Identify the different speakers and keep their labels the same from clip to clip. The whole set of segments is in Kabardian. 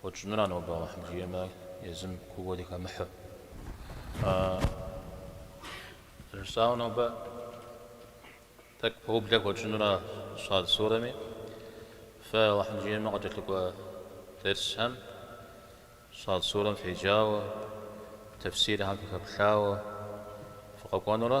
Speaker 1: Хуэтщӏынура нобэ Алыхьым жиӏэмэ езым куууэ дыхэмыхьэу? Жысӏауэ нобэ тӏэкӏу пэублэ хуэтщӏынура Щад Сурэми? Фэ Алыхьым жиӏэмэ къыкӏэлъыкӏуэ дерсхэм, Щад Сурэм феджауэ, тефсирхэм фыхэплъауэ фыкъэкӏуэнурэ?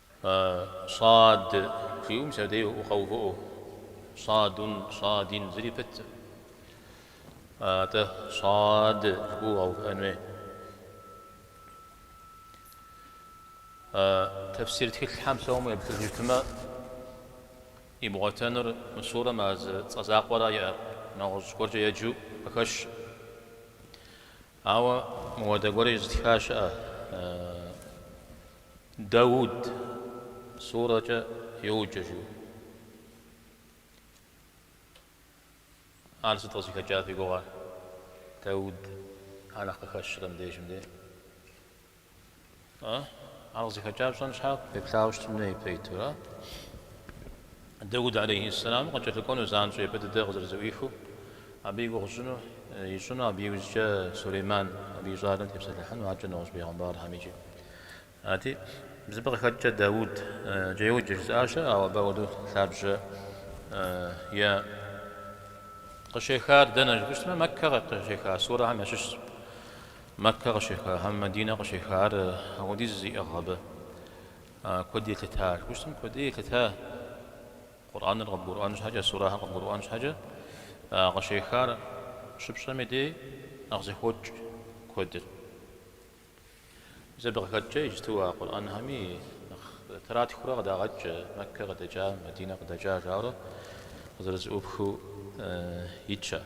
Speaker 1: Щӏад жиӏэу мис абдей укъэувыӏэу. Щӏадун, щӏадин, зыри пыткъым. Атӏэ щӏад жыпӏэу укъэувыӏэн хуей. Тэфсир тхылъхэм псом еплъыжыфмэ, ибгъуэтэнур мы сурэм а зы цӏэ закъуэра иӏэр, нэгъуэщӏ гуэркӏэ еджэу къыхэщ. Ауэ мыуэдэ гуэр зытха щыӏэ? Дауд сурэкӏэ йоджэ жиӏэу. Ар сыт къызыхэкӏар фи гугъэ? Дауд ар нэхъ къыхэщрэ мыбдежым де? Ар къызыхэкӏар пщӏэн щхьэкӏэ уеплъауэ щытын хуейт, ара. Дэуд алейхьиссэламым къыкӏэлъыкӏуэну занщӏэу япэ дыдэ къызэрызэӏуихыу, абы и гугъу тщӏыну, ищӏыну, абы иужькӏэ Сулейман, абы и щӏалэм тепсэлъыхьыну, аркӏэ нэгъуэщӏ пэйгъэмбархэм икӏи. Арати, мис абы къыхэкӏкӏэ Дэудкӏэ йоджэ жызыӏа щыӏэ, ауэ абы апхуэдэу лъабжьэ иӏэкъым. Къыщехар дэнэ жыпӏэщтмэ, Мэккэ къыщеха сурэхэм ящыщщ. Мэккэ къыщеха, хьэмэ Мадинэ къыщеха, ар ахуэдиз зиӏыгъ абы. Куэд елъыта, жыпӏэщтмэ куэди елъыта, Къурӏэныр къыбгурыӏуэн щхьэкӏэ, сурэхэр къыбгурыӏуэн щхьэкӏэ, къыщехар щыпщӏэм и дей нэхъ зэхокӏ куэдыр. Мис абы къыхэкӏкӏэ иджытэу а Къурӏэнхэми тратхэурэ къыдагъэкӏ, Мэккэ къыдэкӏа, Мадинэ къыдэкӏа жаӏэурэ къызэрызэӏупхыу итщ ар.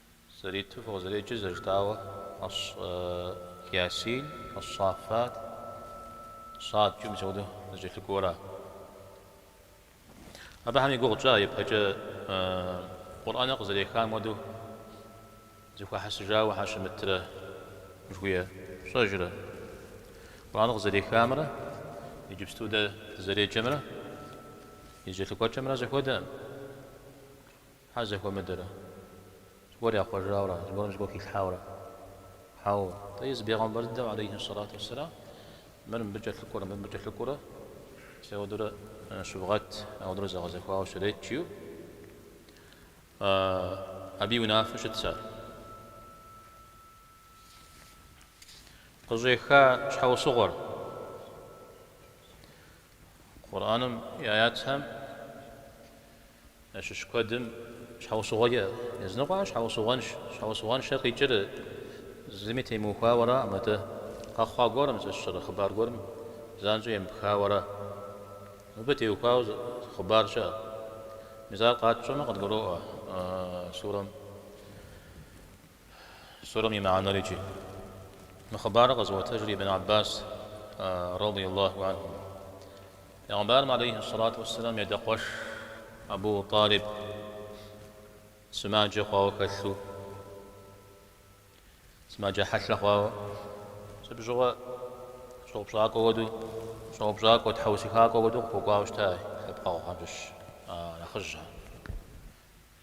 Speaker 1: Зэриту фыкъызэреджэр зэрыжытӏауэ, ӏэщ Ясин, Ас-Сафат, Садкӏэ мис апхуэдэу зэкӏэлъыкӏуэуэра? Абыхэм и гугъу тщӏа ипэкӏэ Къурӏэныр къызэрехам хуэдэу зэхуахьэсыжауэ щхьэ щымытрэ жыхуиӏэр? Пщӏэжрэ? Къурӏэныр къызэрехамрэ иджыпсту дэ дызэреджэмрэ и зэкӏэлъыкӏуэкӏэмрэ зэхуэдэкъым. Щхьэ зэхуэмыдэрэ? Зыгуэр яхъуэжауэрэ, зыгуэрым зыгуэр хилъхьауэрэ? Хьэуэ. Атӏэ езы Бегъымбэр дыдэм, алейхи ссалату уссалам, мыр мыбы кӏэлъыкӏуэрэ, мыр мыбы кӏэлъыкӏуэрэ, мис ауэдурэ щывгъэт, ауэдурэ зэгъэзэхуауэ щырет, жиӏэу, абы и унафэу щытщ ар. Къыщӏеха щхьэусыгъуэр Къурӏэным и аятхэм ящыщ куэдым щхьэусыгъуэкӏэ языныкъуэ, щхьэусыгъуэнш, щхьэусыгъуэншэ къикӏыр зыми темыухуауэрэ мыдэ къэхъуа гуэрым, зыщӏыр хъыбар гуэрым занщӏэу емыпхауэрэ. Мыбы теухуауэ хъыбар щыӏэ. Мис ар къэтщӏэмэ къыдгуроӏуэ сурэм. Сурэм и мыхьэнэрикӏи. Мы хъыбарыр къэзыӏуэтэжыр Ибн Аббас, радий Аллаху анхум. Пегъэмбарым, алейхи ссалату уэсселам, и адэ къуэш Абу Талиб сымаджэ хъуауэ хэлъу, сымаджэ хьэлъэ хъуауэ, мис абы щыгъуэ щӏэупщӏакӏуэ хуэдэу, щӏэупщӏакӏуэ, тхьэусыхакӏуэ хуэдэу къыхуэкӏуауэ щытащ, лъэпкъэгъухэм щыщ нэхъыжьхэр.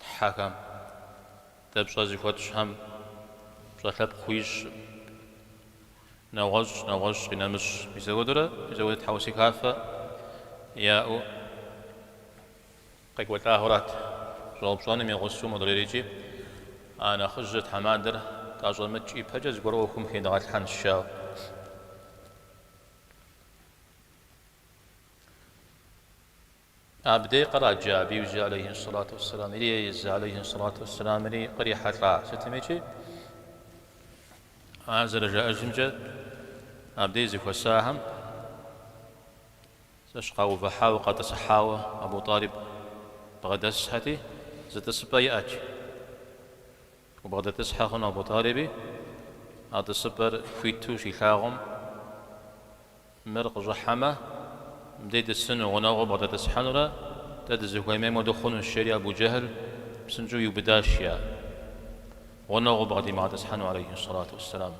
Speaker 1: Тхьэхэм. Дэ пщӏэ зыхуэтщӏхэм пщӏэ лъэпкъ хуищӏым. Нэгъуэщӏ, нэгъуэщӏ, къинэмыщӏ. Мисэуэдурэ мисэуэдэ тхьэусыхафэ яӏэу къекӏуэлӏауэрат. Щӏэупщӏэным и гъусэу модрейрикӏи, а нэхъыжьыр тхьэмадэр тӏэщӏэмыкӏ ипэкӏэ зыгуэр ӏуэхум хедгъэлъхьэнщ, жаӏэу. Абдей къраджа абы иужь алейхи ссалату уссалам ири Езы алейхи ссалату уссалам ири кърихьэлӏа? Сытмикӏи, ар зэрыжаӏэжымкӏэ, абдей зыхуэсахэм зэщ къаувыхьауэ, къатӏысыхьауэ Абу Тӏалиб бгъэдэсхьэти, зы тӏысыпӏэ иӏэт. Убгъэдэтӏысхьэ хъуну Абу Тӏалиби? А тӏысыпӏэр хуиту щилъагъум, мыр къыщӏыхьэмэ, мыбдей тӏысыну, гъунэгъуу бгъэдэтӏысхьэнурэ, дэ дызыхуэмейм хуэдэу хъунущ, жери Абу Джэхьл псынщӏэу иубыдащ я гъунэгъуу бгъэдимыгъэтӏысхьэну, алейхьи сэлату уэсселам.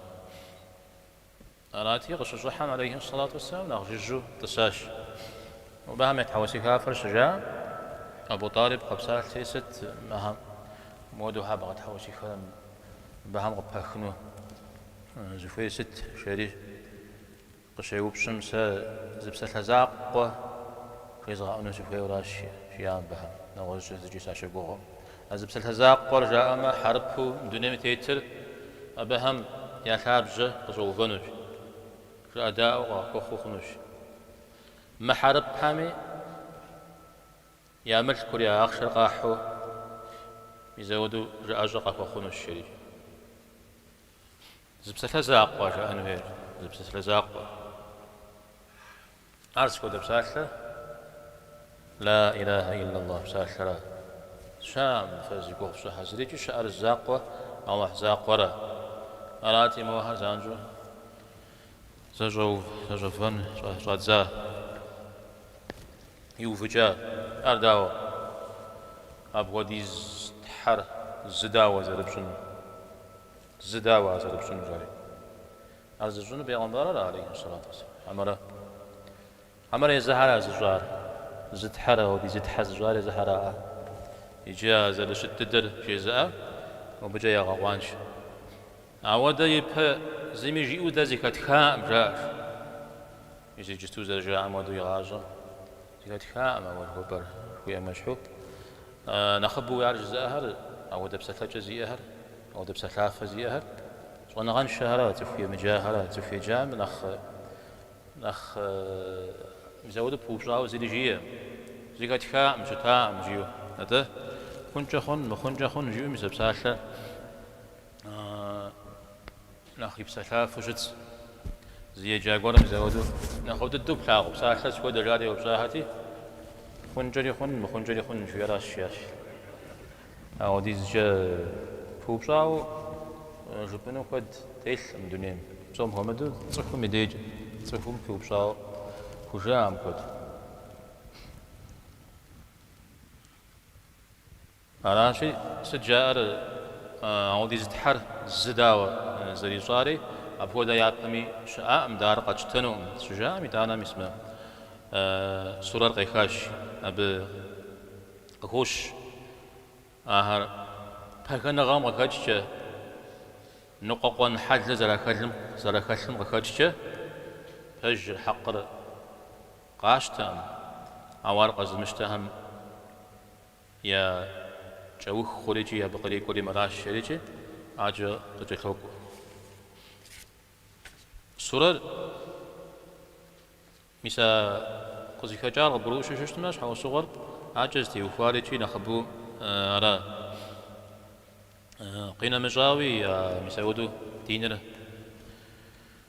Speaker 1: Арати, къыщыщӏыхьэм алейхьи сэлату уэсэлам нэхъ жыжьэу тӏысащ. Мобыхэм я тхьэусыхафэр щыжаӏэм, Абу Тӏалиб къэпсалъти, Сыт мыхэм муэду щхьэ бгъэтхьэусыхэрэ, мыбыхэм къапыпхыну узыхуей сыт? жери къыщеупщӏым, Сэ зы псалъэ закъуэ хуезгъэӏуну сыхуейуэращ, жиӏа мыбыхэм. Нэгъуэщӏкӏэ зыкӏи сащыгугъым. А зы псалъэ закъуэр жаӏэмэ, хьэрыпу дунейм тетыр абыхэм я лъабжьэ къыщӏэувэнущ, жыӏэдаӏуэу къахуэхъуу хъунущ. Мыхьэрыпхэми я мылъкур, я ахъшэр къахьу мисэуэду жыӏэщӏэ къахуэхъунущ, жери. Зы псалъэ закъуэ жаӏэн хуейр, зы псалъэ закъуэ. Ар сыт хуэдэ псалъэ? Ла илахьэ иллаллахь псалъэра. Щыӏэкъым фэ зи гугъу фщӏы тхьэ зырикӏи щыӏэр закъуэ Алыхь закъуэра. Арати, мохэр занщӏэу зэщӏэувэн щӏадза, иувыкӏа. Ар дауэ апхуэдиз Тхьэр зы дауэ зэрыпщӏынур? Зы дауэ ар зэрыпщӏынур, жари. Ар зыщӏынур пегъэмбарыр ара, алейхи ссалату уссалам, хьэмэрэ езыхэра зыщӏар? Зы Тхьэр аудиз тхьэ зыщӏар езыхэраӏэ? Иджы а зэрыщыт дыдэр жызыӏэр, мыбыкӏэ ягъэкъуаншэ. Ауэдэ ипэ зыми жиӏэу дэ зыхэтхаӏым, жаӏащ. Мис иджысту зэрыжаӏам хуэдэу игъащӏэм, зыхэтхаӏым ауэдэ хъыбар, жыхуаӏэм ещхьу. Нэхъыбэуи ар жызыӏэхэр, апхуэдэ псэлъэкӏэ зиӏэхэр. Ауэдэ псэлъафэ зиӏэхэр щӏэныгъэншэхэра, цӏыху емыджахэра, цӏыху еджам нэхъ мис ауэдэу пыупщӏауэ зыри жиӏэ, зыхэтхакъым, щытакъым жиӏэу. Атӏэ, хъункӏэ хъун, мыхъункӏэ хъун жиӏэу мис а псалъэ Нэхъ ипсэлъафэу щытщ. Зы еджа гуэрым мис ауэдэу нэхъыфӏ дыдэу плъагъу псалъэ сыт хуэдэ жари еупщӏахэти, хъункӏэри хъун, мыхъункӏэри хъун жиӏэращ, жиӏащ. Ауэдизкӏэ пыупщӏауэ жыпӏэну куэд телъкъым дунейм. Псом хуэмыдэу цӏыхум и дежкӏэ цӏыхум пыупщӏауэ хужыӏэкъым куэд. Аращи, сыт жаӏэр, аудиз Тхьэр зы дауэ зэрищӏари, апхуэдэ япэми щыӏакъым, дэ ар къэтщтэнукъым, щыжаӏэм, итӏанэ мис мы сурэр къехащ, абы къыхощ ахэр пагэныгъэм къыхэкӏкӏэ, ныкъуэкъуэн хьэлыр зэрахэлым къыхэкӏкӏэ, пэжыр, хьэкъыр къащтэкъым, ауэ ар къэзымыщтэхэм Я кӏэух хъур икӏи абы кърикӏуэри мыращ, жери икӏи акӏэ къыкӏэлъокӏуэ. Сурэр, мис а къызыхэкӏар къыбгурыӏущу щыщытмэ, щхьэусыгъуэр, акӏэ зытеухуар икӏи нэхъыбэу ара? Къинэмыщӏауи, мис апхуэдэу диныр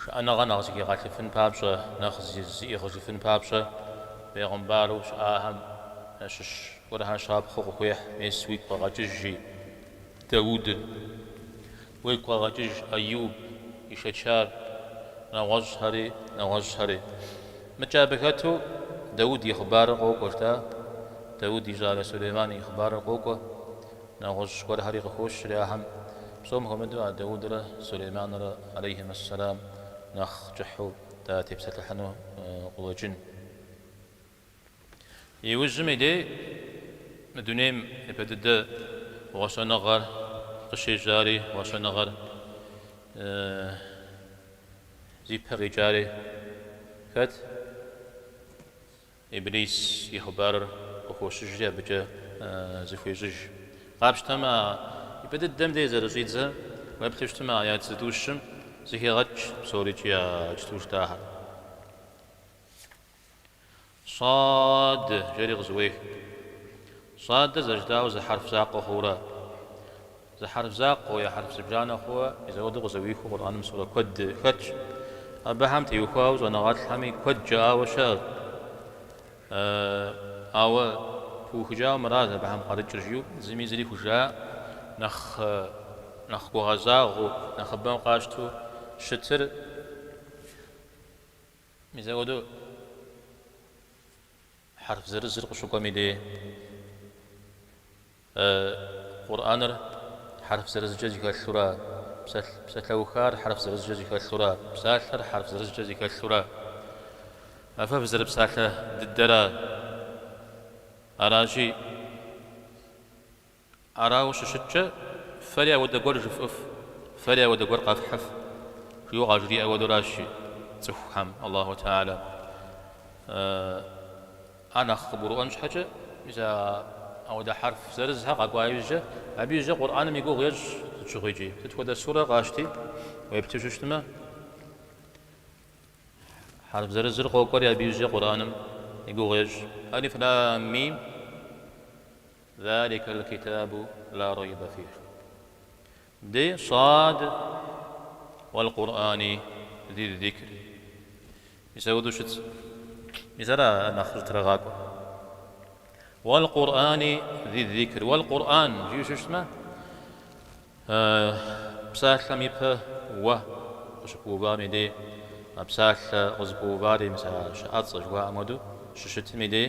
Speaker 1: Шыӏэныгъэ нэхъ зыхигъэлъыфын папщӏэ, нэхъ зиӏыгъыжыфын папщӏэ бегъымбару щыӏахэм ящыщ гуэрхэр щапхъэу къыхуехь, Мес уигу къэгъэкӏыж, жи Дауд. Уигу къэгъэкӏыж Ӏэюб ишэчар, нэгъуэщӏхэри, нэгъуэщӏхэри. Мыкӏэ абы хэту Дауд и хъыбарыр къокӏуэ, жытӏа? Дауд и щӏалэ Сулейман и хъыбарыр къокӏуэ. Нэгъуэщӏ гуэрхэри къыхощри ахэм, псом хуэмыдэу а Даудрэ Сулейманрэ алейхьим ассэлам нэхъ кӏыхьу датепсэлъыхьыну къулэкӏын. Иужьым и дей мы дунейм япэ дыдэ гъуэщэныгъэр къыщежьари, гъуэщэныгъэр зи пэ къикӏари хэт? Иблис и хъыбарыр къыхощыжри абыкӏэ зыхуещӏыж. Къапщтэмэ, а ипэ дыдэм де зэрыщӏидзэ уеплъу щытмэ аят зытӏущым зыхегъэкӏ псорикӏи а жытӏу щытахэр. Сад жери къызыуех. Садыр зэрыжытӏауэ зы хьэрф закъуэ хъуурэ, Зы хьэрф закъуэу е хьэрф зыбжанэ хъууэ мис ауэдэу къызэуихыу Къурӏэным сурэ куэд хэтщ. Абыхэм теухуауэ щӏэныгъэлӏхэми куэд жаӏауэ щыӏэщ. Ауэ пыухыкӏауэ мыращ абыхэм къарыкӏыр жиӏэу зыми зыри хужыӏа, нэхъ нэхъ гугъэзагъэу, нэхъыбэм къащтэу щытыр мис ауэдэу хьэрф зырызыр къыщыкӏуэми дей. Э, Къурӏэныр хьэрф зырызкӏэ зыхэлъура? Псалъ, псалъэухар хьэрф зырызкӏэ зыхэлъура? Псалъэр хьэрф зырызкӏэ зыхэлъура? А фэ фызэрыпсалъэ дыдэра? Аращи, арауэ щыщыткӏэ, фэри ауэдэ гуэр жыфӏыф, фэри ауэдэ гуэр къэфхьыф, жиӏэу къажриӏэ хуэдуращ цӏыхухэм Аллаху Теала. Э. Ар нэхъ къыбгурыӏуэн щхьэкӏэ, мис ауэдэ хьэрф зырызхэр къэкӏуа ижькӏэ, абы ижькӏэ Къурӏэным и гугъу ещӏ сыт щыгъуи икӏи. Сыт хуэдэ сурэ къащти, уеплъу щыщытмэ, хьэрф зырызыр къокӏуэри абы ижькӏэ Къурӏэным и гугъу ещӏ. Алиф лам мим, Заликал китабу ла райба фих. Ди Сад уал-Къурӏани зил-зикри. Мис ауэду щытщ. Мис ара ар нэхъ зытрагъакӏуэр. Уал-Къурӏани зил-зикри. Уал-Къурӏан жиӏэу щыщтмэ, псалъэм ипэ уэ къыщыпыувам и дей, а псалъэ къызыпыувари, мис а щыӏэцӏэ жыхуаӏэм хуэдэу, щыщытым и дей.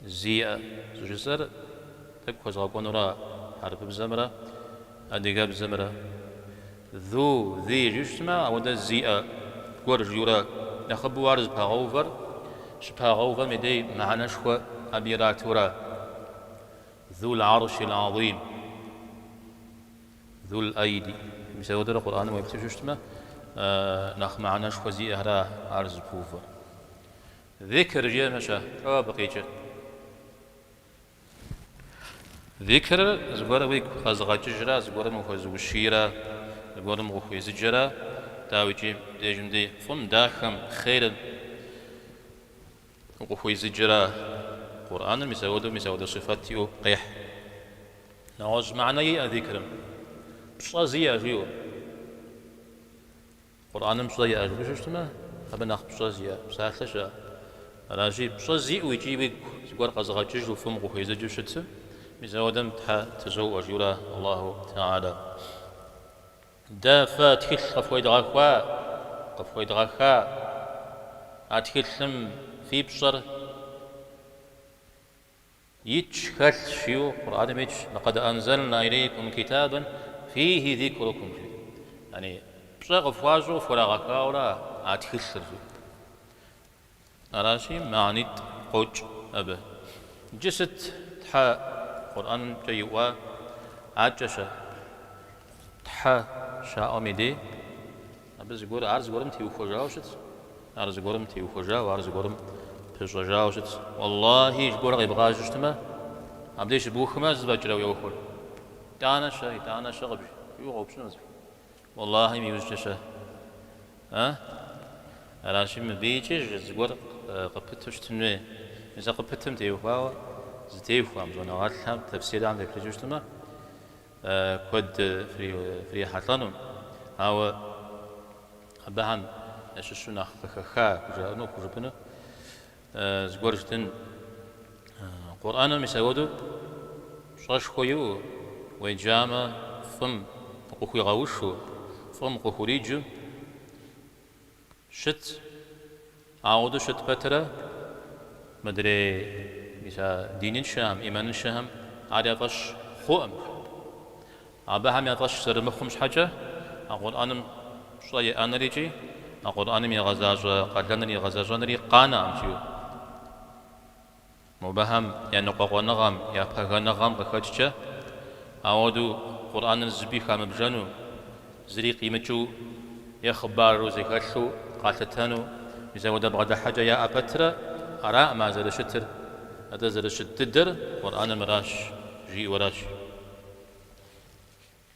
Speaker 1: Зиӏэ щӏыжысӏэр тӏэкӏу хуэзгъэкӏуэнура хьэрыпыбзэмрэ адыгэбзэмрэ? Ду, ди жиӏу щытмэ, ауэдэ зиӏэ гуэр жиӏэурэ нэхъыбэу ар зыпагъэувэр, щыпагъэувэм и дей мыхьэнэшхуэ абы иратура? Ду льӏэрщи льӏэзим, Ду льӏэйди. Мис ауэдэурэ Къурӏэным уеплъу щыщытмэ, нэхъ мыхьэнэшхуэ зиӏэхэра ар зыпыувэр? Зикр жиӏэм-щэ, тӏэ, абы къикӏыр. Зикрыр зыгуэр уигу къэзыгъэкӏыжрэ, зыгуэрым ухуэзыущийрэ, зыгуэрым укъыхуезыджэрэ, дауикӏи, дежым дей фӏым, дахэм, хъерым укъыхуезыджэрэ. Къурӏэныр мис ауэдэу мис ауэдэ сыфэт иӏэу къехь. Нэгъуэщӏ мыхьэнэ иӏэ зикрым, пщӏэ зиӏэ жиӏэу. Къурӏэным пщӏэ иӏэжыну щытмэ, абы нэхъ пщӏэ зиӏэ псалъэ щыӏэ? Аращи, пщӏэ зиӏэу икӏи уигу зыгуэр къэзыгъэкӏыжу фӏым укъыхуезыджэу щытым, мис ауэдэм Тхьэ тызоӏуэ, жиӏэурэ Аллаху тэгьалэ. Дэ фэ тхылъ къыфхуедгъэха, къыфхуедгъэха, а тхылъым фи пщӏэр Итщ, хэлъщ, жиӏэу, Къурӏэным итщ, Лакъэд анзэлна илейкум китабэн фийхи зикрукум, жи. Яни, пщӏэ къыфхуащӏу къыфхурагъэхауэра а тхылъыр, жи. Аращи, мыхьэнитӏ къокӏ абы. Иджы сыт Тхьэ Къурӏэнкӏэ иӏуа акӏэ-щэ, Тхьэ щаӏуэм и дей? Абы зыгуэр, ар зыгуэрым теухуэжауэ щытщ, ар зыгуэрым теухуэжауэ, ар зыгуэрым пыщӏэжауэ щытщ. Уэллахьи, зыгуэр къебгъажьэу щытмэ, абдеж щыбухмэ, сыт фӏэкӏрэ уеухуэр? Итӏанэ-щэ, итӏанэ-щэ къыбжиӏэу къоупщӏынущ. Уэллахьим иужькӏэ-щэ? А? Аращи, мыбыкӏи зыгуэр къыпыту щытын хуей. Мис а къыпытым теухуауэ зытеухуам, щӏэныгъэлӏхэм, тэфсирхэм теплъэкӏыу щытмэ, куэд фрихьэлӏэну, ауэ абыхэм ящыщу нэхъ къыхэха хужаӏэну, хужыпӏэну зыгуэр жытӏэн. Къурӏэным мис ауэдэу пщӏэшхуэ иӏэу, уеджамэ, фӏым къыхуигъэушу, фӏым къыхуриджу, Щыт. Ауэдэу щыт пэтрэ, мыдрей мис а диныншэхэм, имэныншэхэм ар я фӏэщ хъуӏым. Абыхэм я фӏэщ зэрымыхъум щхьэкӏэ, а Къурӏэным пщӏэ иӏэныр икӏи а Къурӏэным игъэзащӏэ къалэныр игъэзэщӏэнри къанэӏым жиӏэу. Мобэхэм я ныкъуэкъуэныгъэм, я пагэныгъэм къыхэкӏкӏэ, ауэдэу Къурӏэныр зыби хамыбжэну, зыри къимыкӏыу е хъыбару зэхэлъу къалъытэну мис ауэдэ бгъэдыхьэкӏэ яӏэ пэтрэ араӏым ар зэрыщытыр, атӏэ зэрыщыт дыдэр Къурӏэныр мыращ, жиӏэуращ.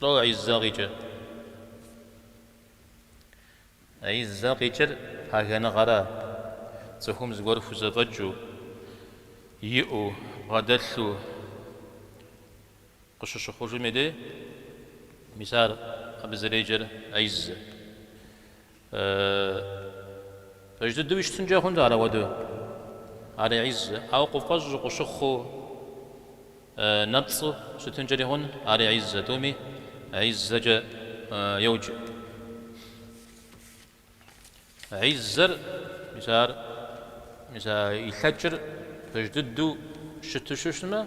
Speaker 1: Тӏэ Ӏиззэм къикӏыр? Ӏиззэм къикӏыр пагэныгъэра? Цӏыхум зыгуэр хузэфӏэкӏыу, иӏэу, бгъэдэлъу къыщыщыхъужым и дей, мис ар абы зэреджэр Ӏиззэ. Пэж дыдэу щытынкӏэ хъуну ар ауэдэу, ар Иззэ, ауэ къуфӏэщӏ къущыхъуу нэпцӏу щытынкӏэри хъуну ар Иззэ, тӏуми Иззэкӏэ йоджэ. Иззэр, мис ар, мис а илъэкӏыр пэж дыдэу щыту щыщмэ,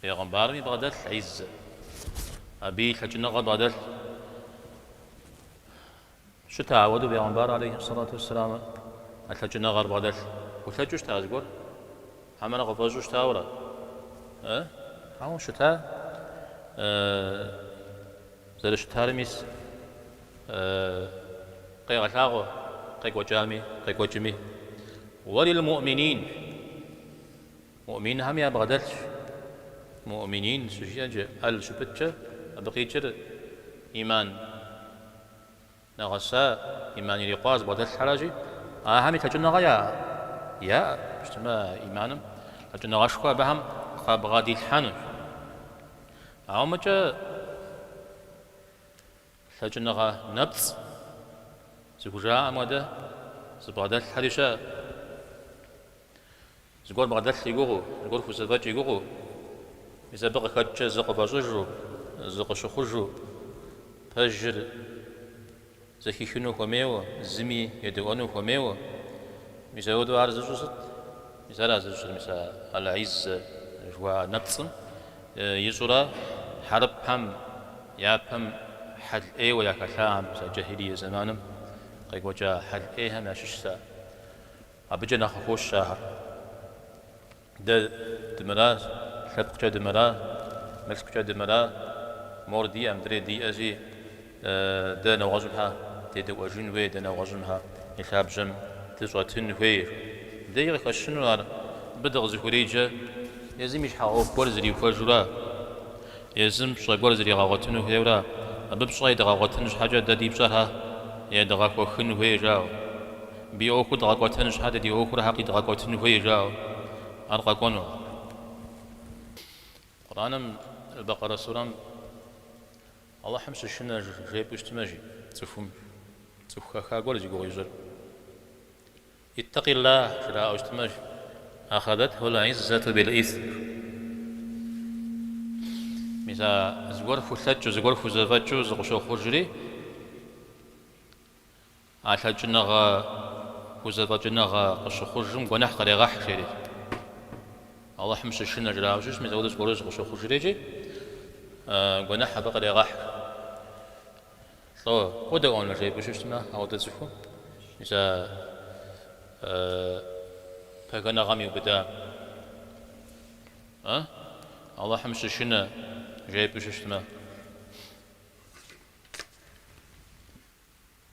Speaker 1: Пегъымбарми бгъэдэлъ Иззэ. Абы и лъэкӏыныгъэ бгъэдэлъу щыта? Ауэдэу Пегъымбар алейхи сэлату уэссэлам а лъэкӏыныгъэр бгъэдэлъу, хулъэкӏыу щыта зыгуэр? Хьэмэрэ къыфӏэщӏу щытауэрэ? Э? Ауэ щыта? Зэрыщытар мис къегъэлъагъуэ къекӏуэкӏами, къекӏуэкӏми. Уэлил муӏминин. Муӏминхэм ябгъэдэлъ. Муӏминин щыжиӏэкӏэ, аль щыпыткӏэ абы къикӏыр ӏиман нэгъэса, ӏиман ирикъуа зыбгъэдэлъхьэращи, ахэми лъэкӏыныгъэ яӏэ? Яӏэу щытмэ а ӏиманым лъэкӏыныгъэшхуэ абыхэм къабгъэдилъхьэнущ. Ауэ мыкӏэ Лъэкӏыныгъэ нэпцӏ зыхужаӏэм хуэдэ зыбгъэдэлъхьэри щыӏэ. Зыгуэр бгъэдэлъ и гугъэу, зыгуэр хузэфӏэкӏ и гугъэу, мис абы къыхэкӏкӏэ зыкъыфӏэщӏыжу, зыкъыщыхъужу, пэжыр зэхихыну хуэмейуэ, зыми едэӏуэну хуэмейуэ, мис ауэдэу ар зыщӏыр сыт? Мис ара зыщӏыр, мис а Аль-Иззэ жыхуаӏэ нэпцӏым? Ищӏурэ, хьэрыпхэм япэм хьэл ӏейуэ яхэлъахэм, мис а джахилие зэманым къекӏуэкӏа хьэл ӏейхэм ящыщщ ар. Абыкӏэ нэхъ къыхощ ахэр. Дэ дымыра, лъэпкъкӏэ дымыра, мылъкукӏэ дымыра, мор диӏэ, мыдрей диӏэщи, Дэ нэгъуэщӏым щхьэ дедэӏуэжын хуей, дэ нэгъуэщӏым щхьэ и лъабжьэм дыщӏэтын хуей. Дэри къыхэщыну ар. Мыбы дыкъызэхуреджэ, езым и щхьэ ӏуэху гуэр зрихуэжура, езым пщӏэ гуэр зригъэгъуэтыну хуейуэра, абы пщӏэ едгъэгъуэтын щхьэкӏэ дэ ди пщӏэр щхьэ едгъэхуэхын хуей, жаӏэу, мыбы и ӏуэхур дгъэкӏуэтэн щхьэкӏэ дэ ди ӏуэхур щхьэ къидгъэкӏуэтын хуей, жаӏэу, ар къэкӏуэну Къурӏэным, Бэкъэрэ сурэм Алыхьым щышынэ жепӏэу щытмэ жи цӏыхум, цӏыху хэха гуэр зи гугъу ищӏыр. Иттакъиллах! жраӏэу щытмэ жи, Ахадэтху аль-ӏиззату бил-исм. Мис а зыгуэр хулъэкӏыу, зыгуэр хузэфӏэкӏыу зыкъыщохъужри. А лъэкӏыныгъэ узэфӏэкӏыныгъэ къыщыхъужым гуэныхь къырегъэхь, жери. Алыхьым щышынэ жраӏэу щытмэ, мис апхуэдэ зыгуэру зыкъыщохъужрикӏи, гуэныхь абы къырегъэхь. Лӏо къодэӏуэнур жепӏэу щытмэ, апхуэдэ цӏыхум, мис а пхэнжыныгъэм иубыда. А? Алыхьым щышынэ жепӏэу щытмэ.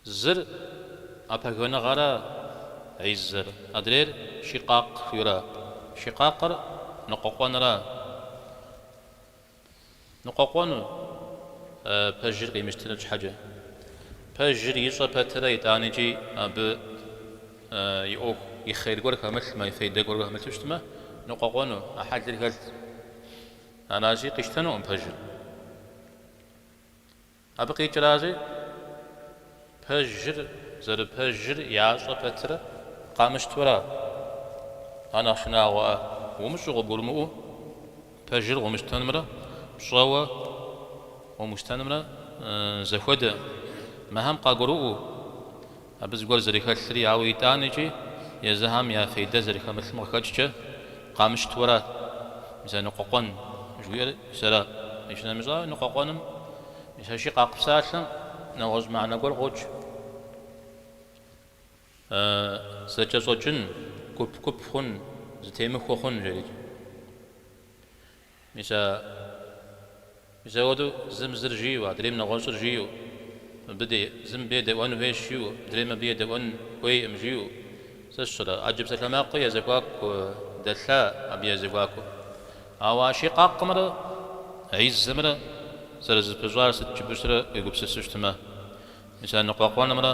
Speaker 1: Зыр, а пэгэныгъэращ изэр, адрейр Шикъакъ жиӏэращ, Шикъакъыр, ныкъуэкъуэнращ. Ныкъуэкъуэну, пэжыр къимыщтыну щхьэкӏэ. Пэжыр ищӏэ пэтырэ итӏанэкӏи абы и ӏуэху, и хейр гуэр хэмылъмэ, и фейдэ гуэр хэмылъу щытмэ, ныкъуэкъуэну, а хьэлыр хэлъщ. Аращи, къищтэнукъым пэжыр. Абы къикӏращи, пэжыр зэрыпэжыр ящӏэ пэтырэ къамыщтэуращ, ар нэхъ шынагъуэр умыщӏэу къыбгурымыӏуэу, пэжыр къыумыщтэнымрэ пщӏэуэ къыумыщтэнымрэ зэхуэдэкъым Мыхэм къагурыӏуэу, Абы зыгуэр зэрыхэлъри, ауэ итӏанэкӏи езыхэм я фейдэ зэрыхэмылъым къыхэкӏкӏэ къамыщтэуращ, мис а ныкъуэкъуэн жыхуиӏэр сытра? Иджы нэмыщӏ ауэ, ныкъуэкъуэным мис а шикъакъ псалъэм нэгъуэщӏ мыхьэнэ гуэр къокӏ. Зэкӏэщӏэкӏын, гуп-гуп хъун, зытемыхуэ хъун жерикӏ. Мис а мис апхуэдэу зым зыр жиу, адрейм нэгъуэщӏыр жиу, мыбы дей, зым абы едэӏуэн хуейщ жиу, мыдрейм абы едэӏуэн хуейкъым жиу, сэ сщӏэрэ? Ӏэджэ псалъэмакъыу я зэхуаку дэлъа абы я зэхуаку? Ауэ а шикъакъымрэ а изэмрэ зэрызэпыщӏар сыт жыпӏэщ рэ уегупсыс щытмэ, мис а ныкъуэкъуэнымрэ?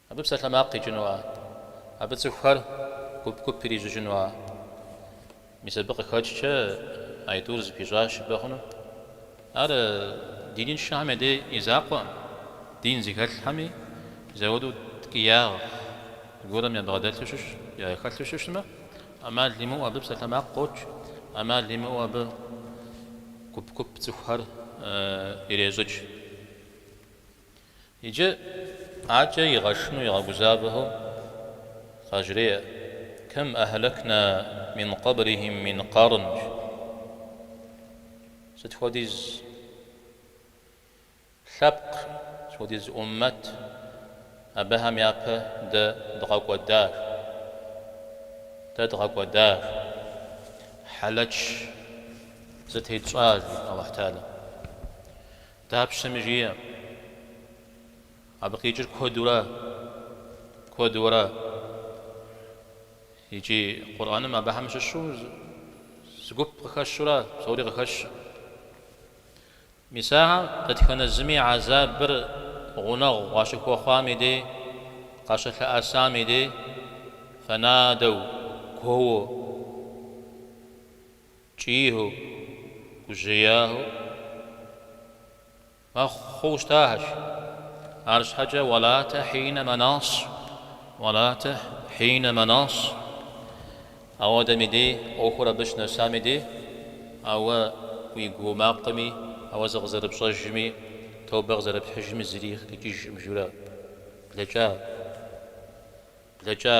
Speaker 1: Абы псалъэмакъ къикӏынуа? Абы цӏыхухэр гуп-гуп ирищӏыкӏынуа? Мис абы къыхэкӏкӏэ а итӏур зэпыщӏащ жыпӏэ хъунущ. Ар диныншэхэм я дей и закъуэкъым, дин зыхэлъхэми зэхуэдэу ткӏиягъ гуэр ябгъэдэлъу щытмэ, яхэлъу щытмэ, ӏэмал имыӏэу абы псалъэмакъ къокӏ, ӏэмал имыӏэу абы гуп-гуп цӏыхухэр ирещӏыкӏ. Иджы аркӏэ игъэшынэу игъэгузавэу къажреӏэ, Кэм ахьлэкна мин къэблихим мин къарн, жи. Сыт хуэдиз лъэпкъ, сыт хуэдиз ӏуммэт абыхэм япэ дэ дгъэкӏуэда, жи. Дэ дгъэкӏуэда, жи. Хьэлэч зытетщӏа, жи, Алыхьталэ. Дапщэми жиӏэ, абы къикӏыр куэдура, куэдура, икӏи Къурӏэным абыхэм щыщу зы гуп къыхэщурэ псори къыхэщу. Мис ахэр дэтхэнэ зыми хьэзабыр гъунэгъу къащыхуэхъуам и дей, къащылъэӏэсам и дей, фэнадэу, гуоуэ, Кӏийхэу, гужьеяхэу мэхъу хъууэ щытахэщ. Арщхьэкӏэ уэлатэ хьинэ мэнас, уэлатэ хьинэ мэнас. Ауэдэм и дей ӏуэхур абы щынэсам и дей, ауэ уи гуо макъыми, ауэ зыкъызэрыпщӏэжми, тобэ къызэрыпхьыжми зыри къикӏыжкъым журэ. Блэкӏа, блэкӏа.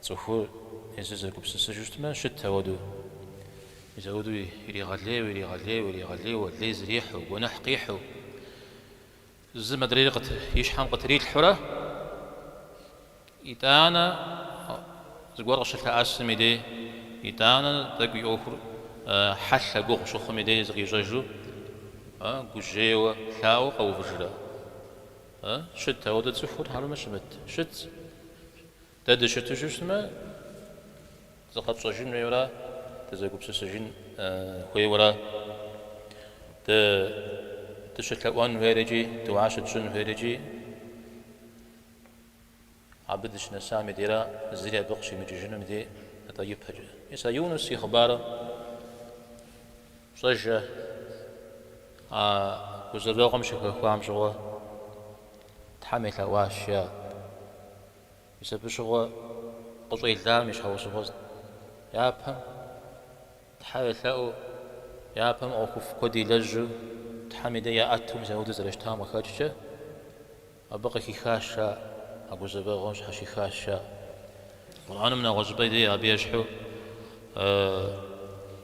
Speaker 1: Цӏыхур езыр зэгупсысыжу щытмэ, щыт ауэду. Мис ауэду иригъэлейуэ, иригъэлейуэ, иригъэлейуэ, лей зэрихьу, гуэныхь къихьу, зым адрейр и щхьэм къытрилъхьурэ, итӏанэ зыгуэр къыщылъэӏэсым и дей, итӏанэ тӏэкӏу и ӏуэхур хьэлъэ гугъу щыхъум и дей зыкъищӏэжу, гужьейуэ, лъаӏуэу къэувыжрэ? Щыт ауэду цӏыхур, хьэрмэ щымыт? Щыт. Дэ дыщыту щытмэ, зыкъэтщӏэжын хуейуэра, дызэгупсысыжын хуейуэра, дэ дыщылъэӏуэн хуейр икӏи дыуэ щытщӏын хуейр икӏи абы дыщынэсам и дейра зыри абы къыщимыкӏыжынум дей, атӏэ ипэкӏэ. Мис а Юнус и хъыбарыр пщӏэжэ а гузэвэгъуэм щыхэхуам щыгъуэ Тхьэм елъэӏуащ, жаӏэ. Мис абы щыгъуэ къыщӏелам и щхьэусыгъуэст. Япэм Тхьэ елъэӏуу, япэм ӏуэхуфӏ куэд илэжьу, Тхьэм и дей яӏэту мис апхуэдэу зэрыщытам къыхэкӏкӏэ, абы къыхихащ жаӏэ, а гузэвэгъуэм щхьэщихащ жаӏэ. Къурӏэным нэгъуэщӏыпӏэ дей абы ещхьу.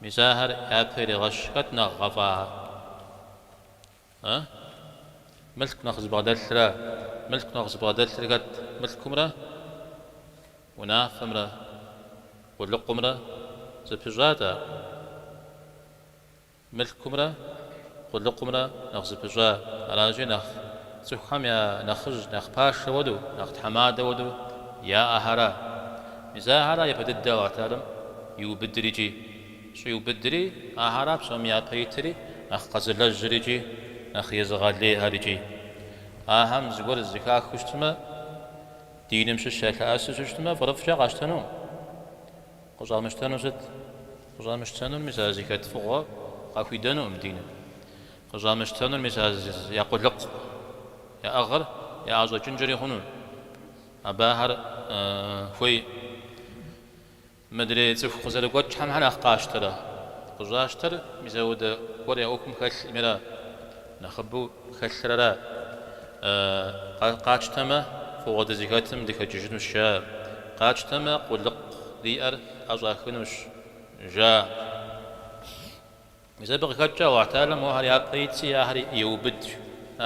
Speaker 1: Мис ахэр япэ иригъэщ, хэт нэхъ гъэфӏахэр? Э? Мылъку нэхъ зыбгъэдэлъра? Мылъку нэхъ зыбгъэдэлъыр хэт, мылъкумрэ унафэмрэ къулыкъумрэ зэпыщӏат ар? Мылъкумрэ къулыкъумрэ нэхъ зэпыщӏа, аращи, нэхъ цӏыхухэм я нэхъыжь, нэхъ пашэ уэдэу, нэхъ тхьэмадэ уэдэу яӏэхэра? Мис ахэра япэ дыдэу Аллахь Тэгьалэм иубыдыр икӏи щӏиубыдри, ахэра псоми япэ итри нэхъ къэзылэжьыр икӏи нэхъ езыгъэлейхэр икӏи. Ахэм зыгуэр зэхахыу щытмэ, диным щыщ ялъэӏэсу щытмэ, фӏырыфӏкӏэ къащтэнукъым. Къыщӏамыщтэнур сыт? Къыщӏамыщтэнур мис а зыхэт фӏыгъуэр къахуидэнукъым диным. Къыщӏамыщтэнур мис а я къулыкъу яӏыгъыр яӏэщӏэкӏынкӏэри хъуну. Абы ахэр хуей? Мыдрей цӏыху къызэрыгуэкӏхэм щхьэ нэхъ къащтэрэ? Къыщӏащтэр мис ауэдэ гуэр я ӏуэхум хэлъкъыми ара. Нэхъыбэу хэлърэ? Къатщтэмэ, фӏыгъуэ дызыхэтым дыхэкӏыжынущ, жа. Къатщтэмэ, къулыкъу диӏэр тӏэщӏахынущ, жа. Мис абы къыхэкӏкӏэ Аллахь Тэгьалэм мохэр япэ итщи ахэр еубыдыр.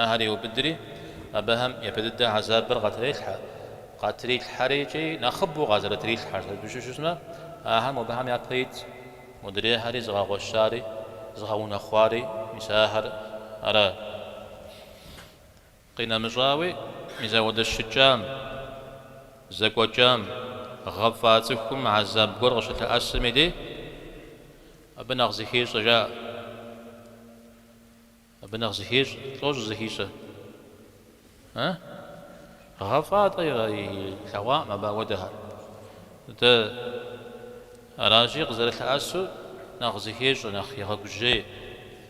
Speaker 1: Ахэр еубыдри, абыхэм япэ дыдэ гьэзабыр къатрелъхьэ. Къатрилъхьэри икӏи нэхъыбэу къазэрытрилъхьэр сыту щыщмэ, ахэр мобыхэм япэ итщ. Модрейхэри зыгъэгъуэщари, зыгъэунэхъуари мис ахэр аращ. Къинэмыщӏауи, мис ауэдэ щыкӏам, зэкӏуэкӏам, гъэфӏа цӏыхум гьэзаб гуэр къыщылъэӏэсым и деж, абы нэхъ зыхещӏэ, жаӏэ. Абы нэхъ зыхещӏэ, тӏуащӏэу зыхещӏэ. Э? Гъэфӏа, атӏэ, илъэгъуакъым абы ауэдэхэр. Дэ аращи, къызэрылъэӏэсу нэхъ зыхещӏэ, нэхъ егъэгужьей.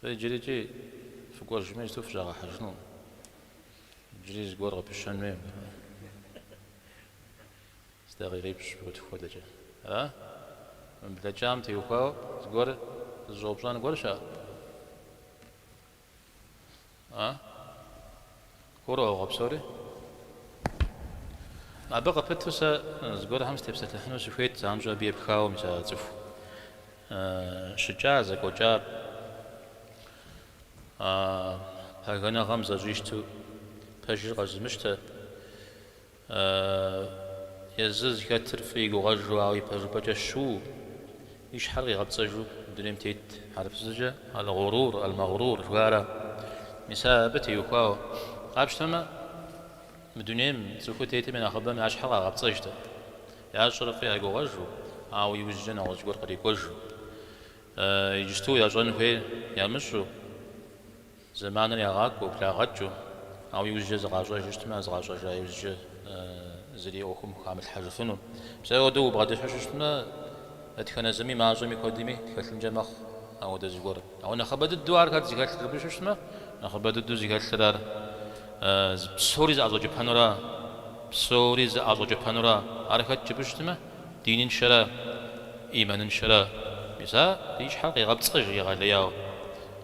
Speaker 1: Зэ иджырикӏи фыкӏуэжми, иджыту фыщӏагъэхьэжынукъым. Иджыри зыгуэр къыпыщэн хуей. Зы дакъикъипщӏ-пщыкӏутху хуэдэкӏэ. Ара? Мы блэкӏам теухуауэ зыгуэр зыщӏэупщӏэн гуэр щыӏэ? А? Гурыӏуэгъуэ псори? Абы къыпыту сэ зыгуэрхэм сытепсэлъыхьыну сыхуейт, занщӏэу абы епхауэ мис а цӏыху щыкӏар, зэкӏуэкӏар, а пагэныгъэм зэщӏищту пэжыр къэзымыщтэ, Ааа, езы зыхэтыр фӏы игугъэжу, ауэ ипэжыпӏэкӏэ щыуэу, и щхьэр къигъэпцӏэжу дунейм тет хьэрыпыбзэкӏэ Аль-Гъурур, Аль-Магърур жыхуаӏэр ара? Мис абы теухуауэ къапщтэмэ, мы дунейм цӏыхуу тетым и нэхъыбэм я щхьэр къагъэпцӏэж, атӏэ, ящӏэр фӏы ягугъэжу, ауэ иужькӏэ нэгъуэщӏ гуэр кърикӏуэжу, иджысту ящӏэн хуейр ямыщӏу. Зэманыр ягъакӏуэу, благъэкӏыу, ауэ иужькӏэ зыкъащӏэжу щытмэ, а зыкъащӏэжа иужькӏэ зыри ӏуэхум хамылъхьэжыфыну. Мис ауэдэу убгъэдыхьу щыщытмэ, дэтхэнэ зыми мащӏэми куэдми хэлъынкӏэ мэхъу ауэдэ зыгуэр. Ауэ нэхъыбэ дыдэу ар хэт зыхэлъыр жыпӏэ щыщытмэ, нэхъыбэ дыдэу зыхэлъыр ар псори зыӏэщӏэкӏыпэнура, псори зыӏэщӏэкӏыпэнура. Ар хэт жыпӏэ щытмэ, диныншэра, ӏиманыншэра. Мис ар и щхьэр къегъэпцӏыж егъэлеяуэ.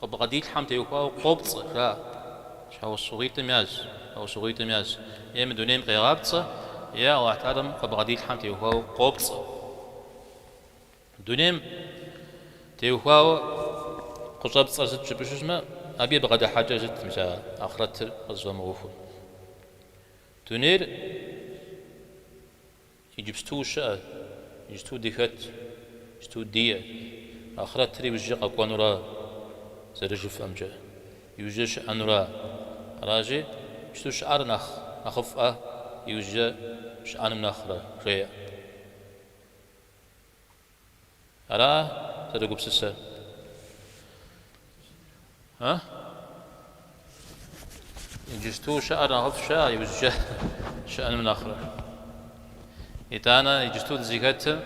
Speaker 1: Къыбгъэдилъхьэм теухуауэ къопцӏэ, жаӏэ, щхьэусыгъуитӏым язщ, щхьэусыгъуитӏым язщ, е мы дунейм къегъапцӏэ, е Алыхьталэм къыбгъэдилъхьэм теухуауэ къопцӏэ. Дунейм теухуауэ къыщӏэпцӏэр сыт жыпӏэ щыщытмэ, абы и бгъэдыхьэкӏэ сыт мис а ахърэтыр къызыфӏэмыӏуэхур. Дунейр Иджыпсту щыӏэ, иджыпсту дыхэт, иджыпсту диӏэ, ахърэтыр иужькӏэ къэкӏуэнура, зэрыжыфӏэмкӏэ, иужькӏэ щыӏэнура. Аращи, иджыпсту щыӏэр нэхъ нэхъыфӏэ иужькӏэ щыӏэным нэхърэ, жеӏэ. Ара зэрэгупсысэр? А? Иджысту щыӏэр нэхъыфӏ щыӏэ иужькӏэ щыӏэным нэхърэ. Итӏанэ иджысту дызыхэтым,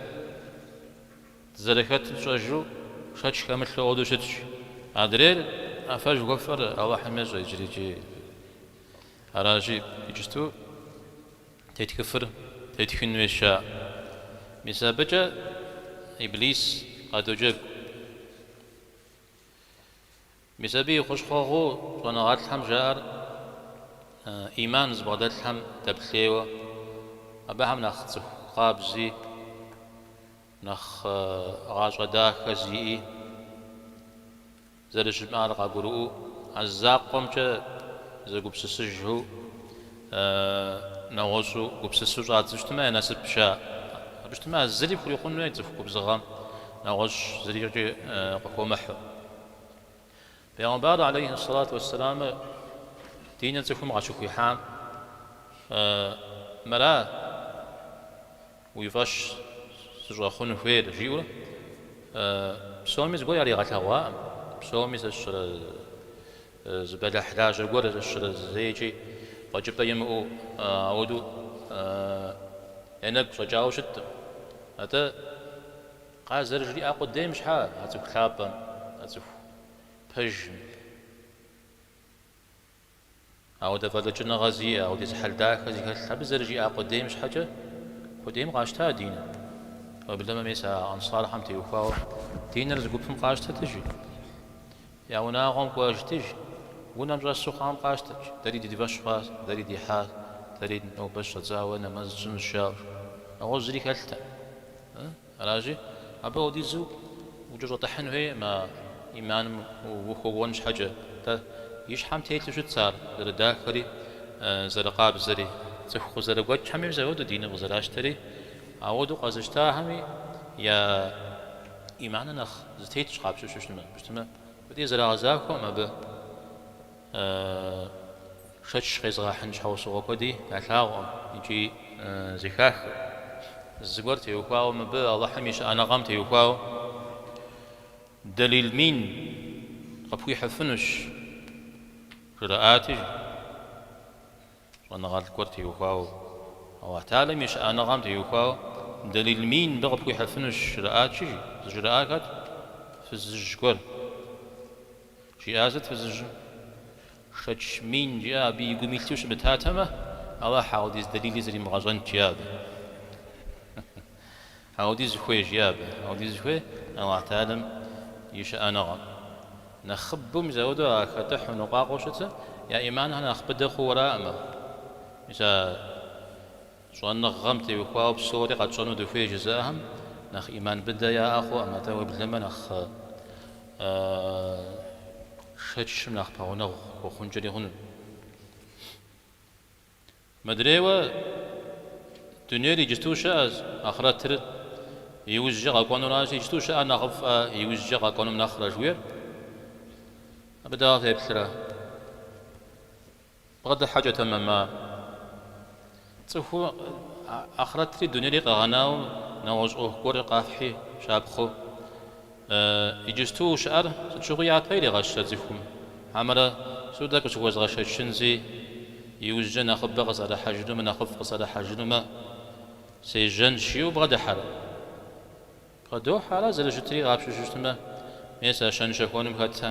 Speaker 1: дызэрыхэтыр тщӏэжу шэч хэмылъу ауэдэу щытщ. Адрейр а фэ жыхуэфӏэр Алыхьым ещӏэ иджырикӏи. Аращи, иджысту. Тетхыфыр тетхын хуейщ, а? Мис абыкӏэ Иблис къадоджэгу. Мис абы и хущхъуэгъуу щӏэныгъэлӏхэм жаӏэр ӏиман зыбгъэдэлъхэм дэплъейуэ, абыхэм нэхъ цӏыху къабзи, нэхъ гъащӏэ дахэ зиӏи, зэрыщымыӏар къагурыӏуэу, а закъуэмкӏэ зэгупсысыжу, нэгъуэщӏу гупсысу щӏадзэу щытмэ, я насыпщ. Абы щытмэ, а зыри хурикъун хуей цӏыху губзыгъэм, нэгъуэщӏ зырикӏи къыхуэмыхьу. Пэйгъэмбар алейхьи ссалату уэссэлямыр диныр цӏыхум къащыхуихьам мыра? Уи фӏэщ сыщӏэхъун хуейр, жиӏэу псоми зыгуэр яригъэлъэгъуакъым. Псоми сщӏэрэ зы бэлыхь лажьэ гуэр сщӏэрэ зэикӏи фӏэкӏыпӏэ имыӏэу ауэдэу я нэгу щӏэкӏауэ щыткъым. Атӏэ, къазэрыжриӏа къудейм щхьэ а цӏыху лъапӏэм, а цӏыху пэжым? Ауэдэ фӏэлӏыкӏыныгъэ зиӏэ, ауэдиз хьэл дахэ зыхэлъ абы зэрыжиӏа къудейм щхьэкӏэ, къудейм къащта диныр. Уеблэмэ мес а ансархэм теухуауэ диныр зы гупым къащтэт, жи, я унагъуэм кӏуэжыт, жи, унэм щӏэсу хъуам къащтэрт, дэри ди фӏэщ хъуа, дэри дихьа, дэри нобэ щӏэдзауэ нэмэз тщӏынущ жаӏэу. Ауэ зыри хэлътэкъым. Аращи, абы ауэдизу укӏэщӏэтыхьын хуейӏымэ ӏиманым ухуэкӏуэн щхьэкӏэ. Атӏэ, и щхьэм телъу щытщ ар зэрыдахэри, зэрыкъабзэри. Цӏыху къызэрыгуэкӏхэми мис ауэдэу диныр къызэращтэри, ауэдэу къэзыщтахэми я ӏиманыр нэхъ зэтетщ къапщтэу щытмэ. Мыбы тезэрагъэзахуэм абы. Шэч къезгъэхьын щхьэусыгъуэ куэди ялъагъуэ икӏи зэхахэ. Зыгуэр теухуауэ мыбы Алыхьым и щыӏэныгъэм теухуауэ дэлил мин къыпхуихьыфынущ, жраӏати, Щӏэныгъэлӏ гуэр теухуауэ, Алыхьталэм и щыӏэныгъэм теухуауэ дэлил мин мыбы къыпхуихьыфынущ жраӏати, жи. Зыжраӏар хэт? Фызыжь гуэр. Жиӏар сыт фызыжьым? Шэч мин жиӏэ абы и гум илъу щымытатэмэ, Алыхь, ауэдиз дэлили зримыгъэщӏэнт жиӏэ абы. Ауэдиз хуей, жи абы. Ауэдиз хуей Алыхьталэм и щыӏэныгъэм. Нэхъыбэу мис ауэдэу а хэтыхьу ныкъуакъуэу щытыр я ӏиманхэр нэхъ быдэ хъууэраӏымэ. Мис а щӏэныгъэм теухуауэ псори къэтщӏэну дыхуей жызыӏэхэм нэхъ ӏиман быдэ яӏэ хъуӏым, атӏэ уеблэмэ нэхъ шэчым нэхъ пэгъунэгъу хуэхъункӏэри хъунущ. Мыдрейуэ, дунейр иджыту щыӏэщ, ахърэтыр иужькӏэ къэкӏуэнуращ, иджыту щыӏэр нэхъыфӏэ, иужькӏэ къэкӏуэнум нэхърэ жыхуиӏэр абы дауэ феплърэ? Бгъэдыхьэкӏэ тэмэма, цӏыху ахърэтри дунейри къэгъэнауэ нэгъуэщӏ ӏуэху гуэр къэфхьи щапхъэу. Иджысту щыӏэр сыт щыгъуи япэ иригъэщрэ цӏыхум? Хьэмэрэ Судэ къыщыхуэзгъэшэчынщи, иужькӏэ нэхъыбэ къысӏэрыхьэжынумэ, нэхъыфӏ къысӏэрыхьэжынумэ, сежьэнщ жиӏэу бгъэдыхьэрэ? Бгъэдохьэ, ара зэрыщытри къапщтэу щытмэ, мес а щэн-щэхуэным хэтэ.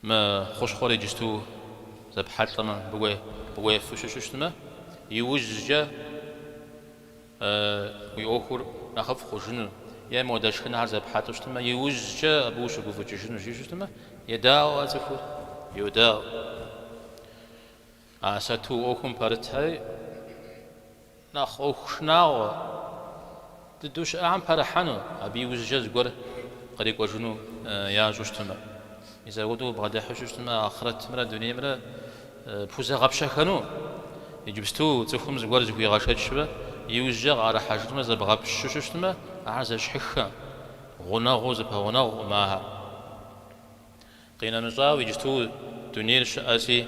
Speaker 1: Мы хущхъуэр иджысту зэпхьэлӏэмэ, мыбы уефу щыщу щытмэ, иужькӏэ уи ӏуэхур нэхъыфӏ хъужыну, е модэ шхынхэр зэпхьэлӏэу щытмэ, иужькӏэ абы ущыгуфӏыкӏыжыну жиӏэу щытмэ, едаӏуэ цӏыхур, йодаӏуэ. А сату ӏуэхум пэрытхэри нэхъ ӏуэху шынагъуэ дыдэу щыӏэхэм пэрыхьэну, абы и ужькӏэ зыгуэр кърикӏуэжыну ящӏу щытмэ, мис ауэдэу бгъэдыхьу щыщытмэ, ахърэтымрэ дунеймрэ пхузэгъэпщэхэну, иджыпсту цӏыхум зыгуэр зыхуигъэшэчмэ, иужькӏэ къыӏэрыхьэжынмэ, зэбгъэпщу щыщытмэ, ахэр зэщхьыххэ, гъунэгъуу зэпэгъунэгъукъым ахэр. Къинэмыщӏауэ, иджыту дунейр щыӏэси,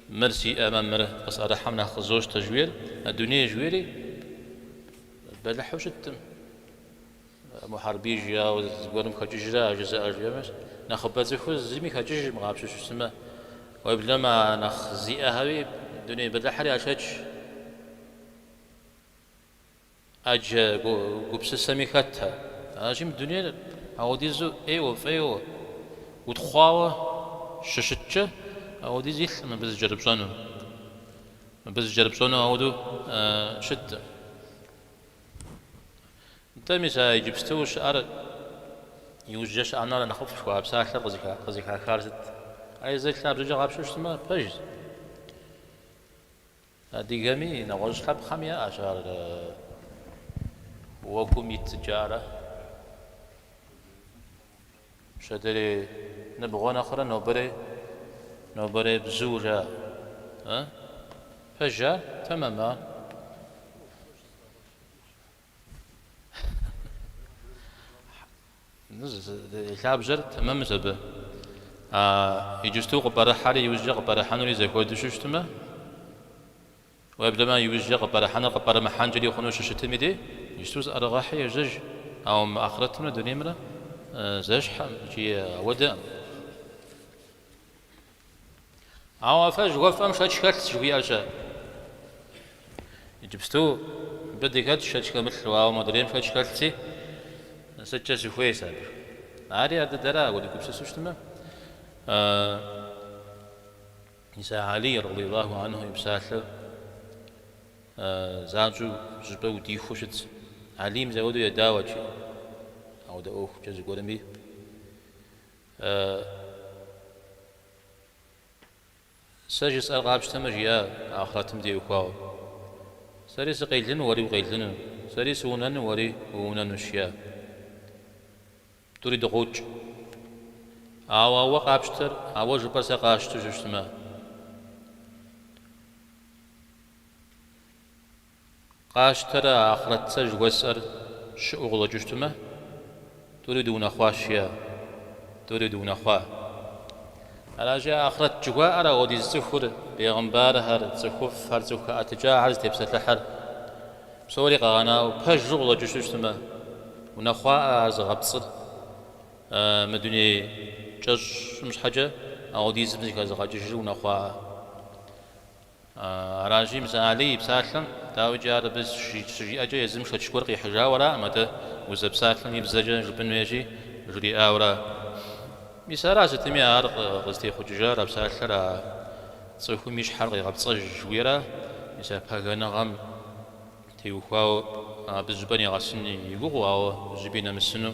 Speaker 1: мыр сиӏэмэ, мыр къысӏэрыхьэм нэхъ къызощтэ жоӏэр, а дуней жоӏэри бэлыхьу щытым, Мухьэрбий жиӏауэ зыгуэрым хэкӏыжрэ а жызыӏэр жиӏэмэ, нэхъыбэ цӏыхур зыми хэкӏыжыркъым къапщту щыщтмэ, уеблэмэ а нэхъ зиӏэхэри дуней бэлыхьри яшэч. ӏэджэ гупсысэми хэт ар? А жиӏэм дунейр ауэдизу ӏейуэ фӏейуэ, утхъуауэ щыщыткӏэ, ауэдиз илъкъым абы зыкӏэрыпщӏэну. Абы зыкӏэрыпщӏэну ауэдэу щытэ. Нтӏэ, мис а иджыпсту щыӏэр иужькӏэ щыӏэм нэхърэ нэхъыфӏ жыхуаӏэ псалъэр къызыхахар сыт? Ар езыр лъабжьэкӏэ къапщту щыщтмэ, пэжщ. Адыгэми нэгъуэщӏ лъэпкъхэми яӏэщ ар уэгум ит жаӏэрэ. Пщэдерей ныбгъуэ нэхърэ нобэрей нобэрей бзу жаӏэ, пэжа тэмэма. Лъабжьэр тэмэмщ абы. Иджыпсту къыпӏэрыхьэри иужькӏэ къыпӏэрыхьэнури зэхуэду щыщтмэ, уеблэмэ иужькӏэ къыпӏэрыхьэныр къыпӏэрымыхьэнкӏэри хъуну щыщытми де, иджыпсту зыӏэрыгъэхьи ежьэжь, ауэ мы ахърэтымрэ дунеймрэ зэщхьэӏым икӏи ауэдэӏым. Ауэ а фэ жыхуэфӏэм шэч хэлъщ жыхуиӏэщэ. Иджыпсту мыбы дыхэтщ шэч хэмылъу, ауэ модрейм шэч хэлъси, сыткӏэ сыхуей сэ абы? Ари ар дыдэра, ауэ дыгупсысу щытмэ? Мис а Алий, радиаллаху анху, и псалъэр занщӏэу жьыпӏэ удихуэу щытщ. Алийм зауэдэу едауэкӏи, ауэ дэ ӏуэхукӏэ зыгуэрми. Сэ жысӏэр къапщтэмэ, жиӏа ахърэтым теухуауэ. Сэри сыкъелыну, уэри укъелыну, сэри сыунэну, уэри уунэнущ, жиӏа. Тӏури дыкъокӏ. Ауэ а уэ къапщтэр, а уэ жыпӏэр сэ къасщту щыщтмэ? Къащтэрэ а Ахърэт сэ жыхуэсӏэр щыӏэу къыщӏэкӏыу щытмэ, тӏури дыунэхъуащ, е, тӏури дыунэхъуа. Аращи, а Ахърэт жыхуаӏэр апхуэдиз цӏыхур, бегъымбархэр, цӏыхуфӏхэр, цӏыху хэӏэтыкӏахэр зытепсэлъыхьыр, псори къэгъэнауэ, пэжу къыщӏэкӏыжу щытмэ, унэхъуаӏэ ар зыгъэпцӏыр, мы дуней кӏэщӏым щхьэкӏэ апхуэдизым зыхэзыгъэкӏыжыр унэхъуаӏэ. Аращи, мис а Алий и псалъэм, дауикӏи, ар абы щыжиӏэкӏэ езым шэч гуэр къихьыжауэраӏым, атӏэ узэпсалъэм и бзэкӏэ жыпӏын хуейщи, жриӏауэра. Мис ара, сытми ар къызытехъукӏыжар, а псалъэр а цӏыхум и щхьэр къигъэпцӏэжыуэра, мис а пагэныгъэм теухуауэ абы зыщӏыпӏэ нигъэсын и гугъэу, ауэ зыщӏыпӏи нэмысыну.